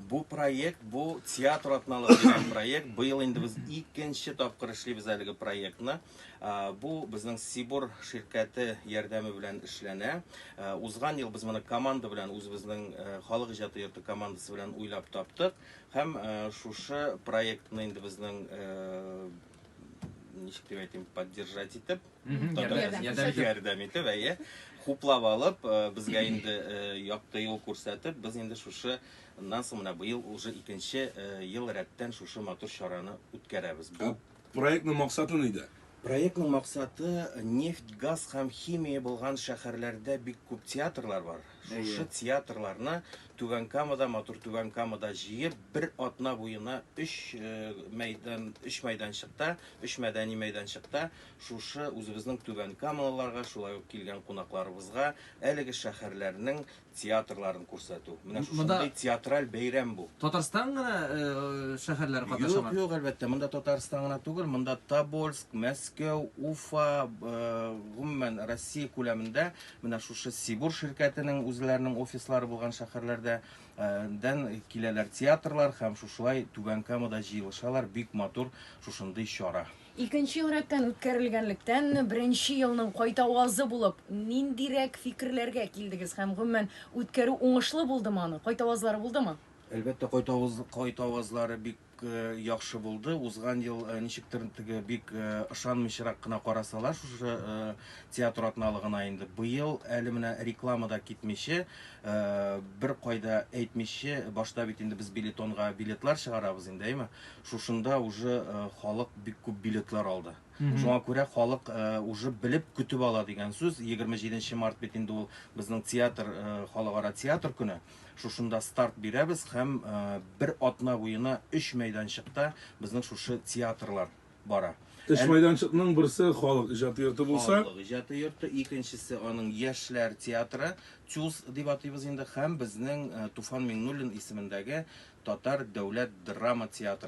Бу проект, бу театр атналыгы дигән проект. Быел инде без икенче тапкыр эшлибез әлеге проектны. Бу безнең Сибур ширкәте ярдәме белән эшләнә. Узган ел без моны команда белән үзебезнең халык иҗаты йорты командасы белән уйлап таптык һәм шушы проектны инде безнең ничек дип әйтим, поддержать итеп ярдәм итеп әйе хуплап алып э, безгә инде э, якты юл күрсәтеп без инде шушы Моннан соң менә быел уже икенче э, ел рәттән шушы матур чараны үткәрәбез. Бу проектның максаты нидә? Проектның максаты э, нефть, газ һәм химия булган шәһәрләрдә бик күп театрлар бар. Шушы театрларны Түбән Камада, матур Түбән Камада җыеп, бер атна буена 3 э, мәйдан, 3 мәйданчыкта, 3 мәдәни мәйданчыкта Шушы үзебезнең түбән камалыларга, шулай ук килгән кунакларыбызга әлеге шәһәрләрнең театрларын күрсәтү. Менә шушындый театраль бәйрәм бу. Татарстан гына шәһәрләре катнашамы? Юк, юк, әлбәттә, монда Татарстан гына түгел, монда Тобольск, Мәскәү, Уфа, гомумән Россия күләмендә менә шушы Сибур ширкәтенең үзләренең офислары булган шәһәрләрдә дән киләләр театрлар һәм шушылай Түбән Камада җыелышалар, бик матур шушындый чара. Икенче ел рәттән үткәрелгәнлектән, беренче елның кайтавазы булып, ниндирәк фикерләргә килдегез һәм, гомумән, үткәрү уңышлы булдымы аны? Кайтавазлары булдымы? Әлбәттә, кайтаваз, кайтавазлары бик яхшы булды. Узган ел ничектер теге бик ышанмыйчарак кына карасалар шушы театр атналыгына инде. Быел әле менә реклама да китмиче, беркайда әйтмиче, башта бит инде без билетонга билетлар чыгарабыз инде, әйме? Шушында уже халык бик күп билетлар алды. Шуңа күрә халык уже белеп көтеп ала дигән сүз. 27 март бит инде ул безнең театр, халыкара театр көне. Шушында старт бирәбез һәм бер атна буена өч мәйданчыкта безнең шушы театрлар бара. Өч мәйданчыкның берсе халык иҗаты йорты булса. Халык иҗаты йорты, икенчесе аның яшьләр театры, ТЮЗ дип атыйбыз инде, һәм безнең Туфан Миңнуллин исемендәге татар дәүләт драма театры.